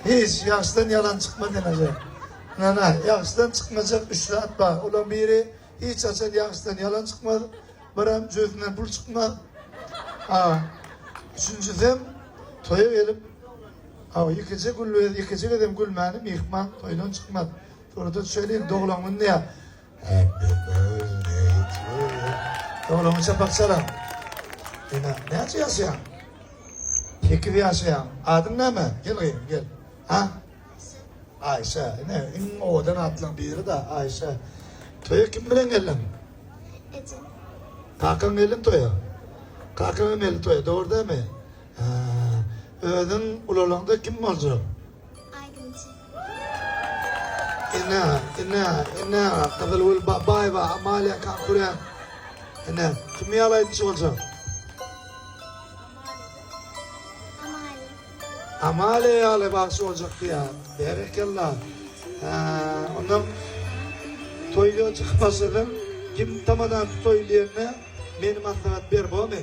Hiç ýagşydan ýalan çykmaz eneje. Nana, ýagşydan çykmajak üç zat bar. Olaň biri, hiç haçan ýagşydan ýalan çykmaz, biram jübüsinden pul çykmaz. A. Üçünjisem, toýa gelip, a. Ýekeje gülbez, ýekeje gezem gülmäni myhman toýdan çykmaz. Surata düşäýlin, doglan günde ýa Happy birthday to you. Dowlama çapak çalaň. Ene, näçe ýaşaýaň? Sekiz ýaşaýaň. Adyň näme? Gel gyzym, gel. Ha? Aýşe. Ene, iň owadan atlaryň biri-de Aýşe. Toýa kim bilen geldiň? Ejem. Kakaň geldim toýa. Kakaň hem geldi toýa, dogry dälmi? Özüň ulalaňda kim boljak? Aýdymçy. Ene, ene, ene, Gyzylgül Babaýewa, Amalia Kankuren. Ene, kim ýaly aýdymçy boljak? Amalia ýaly bagşy boljak diýýär. Berekella. Hä, onda toýda çykyp başlasaň, kim tamadan toý diýende, meni maslahat ber, bomy?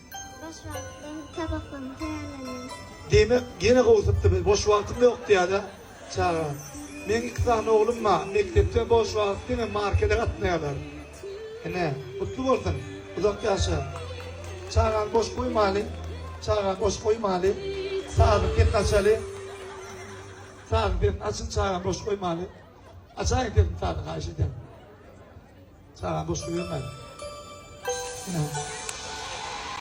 Boş wagtym tabaklama taýýarlanýar. Diýmek ýene gowusypdy biz boş wagtym ýok diýýäda çaga. Meň iki sany oglum ba mekdepde boş wagt diňe markede gatnaýalar. Ene gutly bolsun uzak ýaşa. Çagany boş goýmaly çagany boş goýmaly sazyň sesini açaly. Sazyň sesini açyň çagany boş goýmaly. Açaýyň sesini sazyň haýyş edýän. Çagany boş goýbermäliň. Ene.